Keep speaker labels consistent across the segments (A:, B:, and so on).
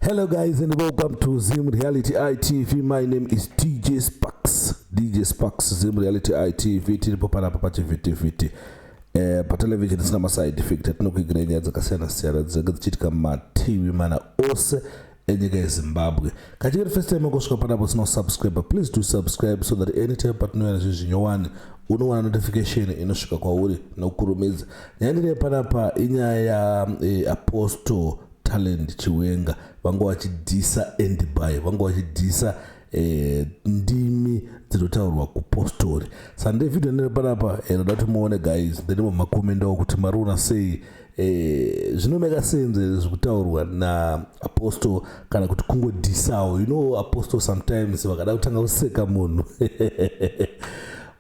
A: Hello guys and welcome to Zim Reality ITV. My name is DJ Sparks. DJ Sparks Zim Reality ITV tiripo panapa pachivhitivhiti eh, patelevision isina maside effect atinokuigirei nyaya dzakasiyana siyana dzinenge dzichiitika mumativi mana ose enyika yezimbabwe kachikeri first time akosvika panapo sina kusubscribe please do subscribe so that anytime patinouya nezvinhu zvinyowani unowana notification inosvika kwauri nokurumidza nyaya ndine panapa inyaya yaapostle eh, talent chiwenga vanga vachidhisa endby vanga vachidhisa eh, ndimi dzinotaurwa kupostori sande vhidhiyo ndine panapa inoda eh, kuti muone guys ndenimo makomendawo kuti mariona sei Eh, zvinomeka senze zvekutaurwa naapostle kana kuti kungodhisawo you know apostle sometimes vakada kutanga kuseka munhu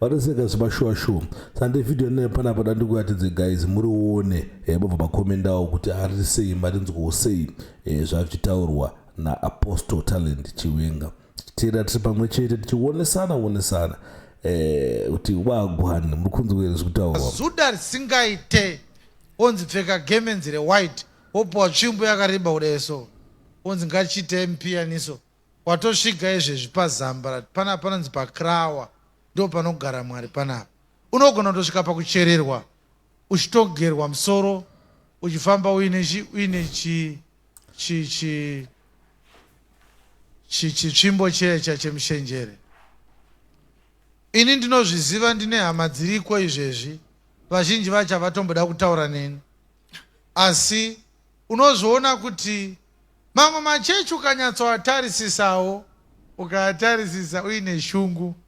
A: vanoseka zvemashuwa shuwa sande vhidhiyo inoyo panapa da ndikuratidze guys murione eh, mobva makomendawo kuti ari sei marinzwawo sei eh, zvavichitaurwa naapostle talent chiwenga tichiteera tiri pamwe chete tichionesana onesana eh, kuti wagwani muri kunzwa here zvekutaura zuda risingaite
B: onzi pfeka gemenzi rewhite wopiwa tsvimbo yakareba kudai so onzi ngachiite mupiyaniso watosviga izvezvi pazambarat panapa panonzi pakrawa ndo panogara mwari panapa unogona kutosvika pakuchererwa uchitogerwa musoro uchifamba uine chi uine chi chi chi chi chitsvimbo checha chemushenjere ini ndinozviziva ndine hama dziriko izvezvi vazhinji vacho havatomboda kutaura neni asi unozviona kuti mamwe machechi ukanyatsoatarisisawo ukaatarisisa uine shungu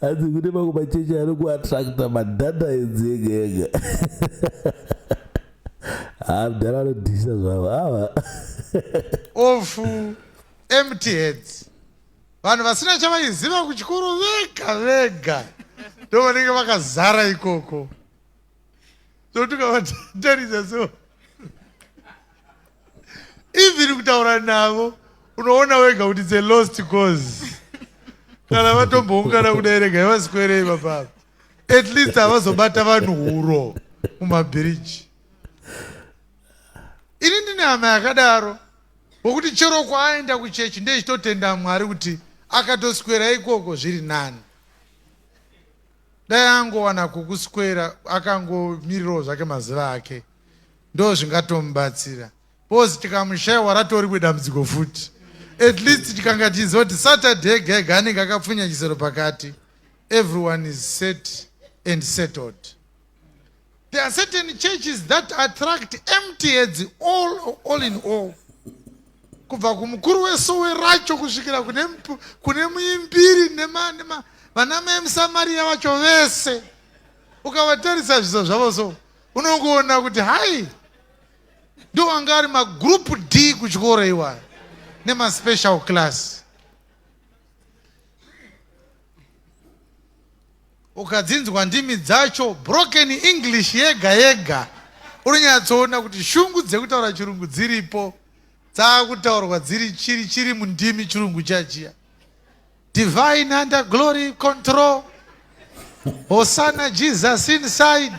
A: hanzi kune mamwe machechi ari kuattracta madhata enzi ega ega haa ah, mdhara anodhisa zvavo ava
B: of empty heads vanhu vasina chavaiziva kuchikoro vega vega ndovanenge vakazara ikoko so tukavatarisa so even kutaura navo unoona wega kuti it's a lost cause kana vatomboungana kudai rega yavaswerei vapapa at least havazobata vanhu huro mumabhiriji ini ndine hama yakadaro wokuti chero kwaaenda kuchechi ndechitotenda mwari kuti akatoswera ikoko zviri nani Dai angowana kukuswera akangomirirawo zvake mazuva ake ndo zvingatomubatsira bcause tikamushaiwa ratoriwe dambudziko futi at least tikanga tichiziva kuti saturday ega ega anenge akapfunya chisero pakati everyone is set and settled There are certain churches that attract empty heads all, all in all. Kubva kumukuru wesowe racho kusvikira kune, kune muimbiri nema, nema, vana mai musamariya vacho vese ukavatarisa zviso zvavo so unongoona kuti hai ndo anga ari magroup d kuchikoro iwayo nemaspecial class Ukadzinzwa ndimi dzacho broken English yega yega unonyatsoona kuti shungu dzekutaura chirungu dziripo dzakutaurwa dziri chiri chiri mundimi chirungu chachiya divine under glory control hosana jesus inside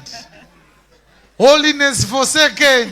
B: holiness for second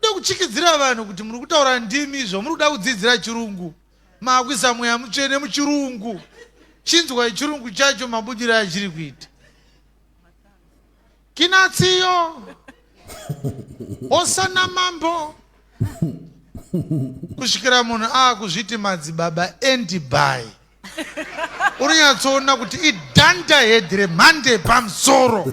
B: Kuda kutyikidzira vanhu kuti muri kutaura ndimi izvo muri kuda kudzidzira chirungu maakuisa mweya mutsvene muchirungu chinzwai chirungu chacho mabudiro achiri kuita kinatsiyo osana mambo kusvikira munhu aakuzviti madzibaba endibai unonyatsoona kuti idanda hedhi remhande pamusoro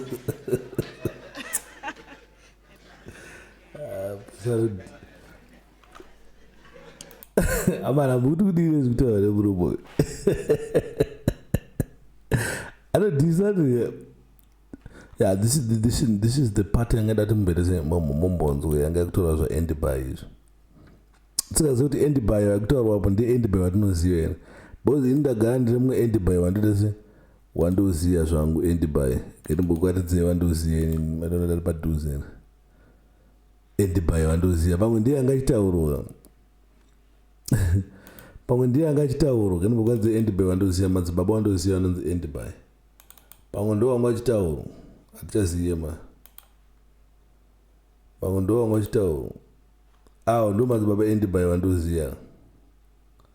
A: amana muti kuti iwe zvikutora vane muromo uyu anodhisa yeah this is this is this is the part yanga ndati mumberese mombonzwe yanga yakutora zva end by izvo tsingaziva kuti end by yakutaurwa apo ndi end by vatinoziva here because ini ndagara ndiri mumwe end by vandotese Wandoziya zvangu endi by ndimbokuatidzei wandoziya ini matona tari padhuze endi by wandoziya pamwe ndiye anga achitaurwa pamwe ndiye anga achitaurwa ndimbokuatidzei endi by wandoziya madzibaba wandoziya anonzi endi by pamwe ndo wanga achitaurwa hatichaziye ma pamwe ndo wanga achitaurwa awo ndo madzibaba endi by wandoziya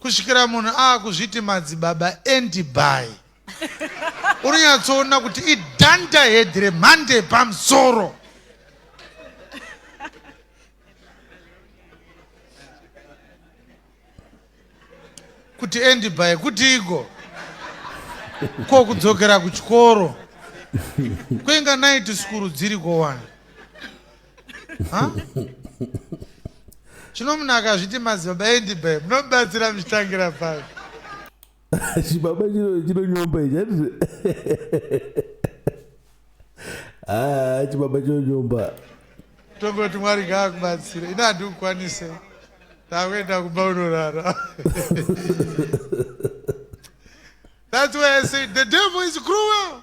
A: kusvikira
B: munhu aakuzviti madzibaba endibai unonyatsoona kuti idhanda hedhi remhande pamusoro kuti endibai kutiiko ko kudzokera kuchikoro kweinga night sukuru dziri kowani Chino munhu akazviti madzibaba endibai munobatsira muchitangira papi?
A: Chibaba chino chinonyomba ichi hati haa chibaba chinonyomba. Tongoti
B: Mwari ngaakubatsire ini handikukwanise ndakuenda kumba unorara. That's why I say the devil is cruel.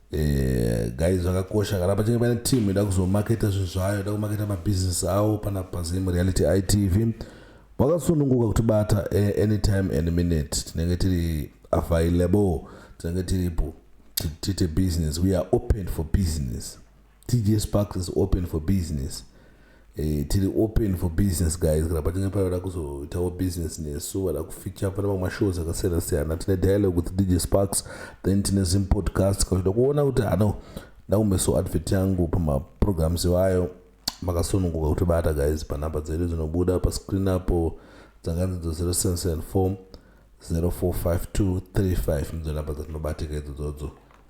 A: Eh, guys zvakakosha kana pachinge pane team ida kuzomaketa zvinhu zvayo ida kumaketa mabusiness awo pana pazim reality itv wakasununguka kuti bata eh, anytime and minute tinenge tiri available tinenge tiripo tite business we are open for business TJ Sparks is open for business. Eh, tiri open for business guys kana pachinge pavada kuzoitawo business nesu vada kufeature pane mamwe mashows akasiyana siyana tine dialogue with dj sparks then tine zim podcast kana zvida kuona kuti hano ndakumeso advert yangu pamaprograms iwayo makasununguka kuti bata guys panhamba dzedu dzinobuda pascreen apo dzakanzi dzo 0774 045235 ndidzo nhamba dzatinobatika idzo dzodzo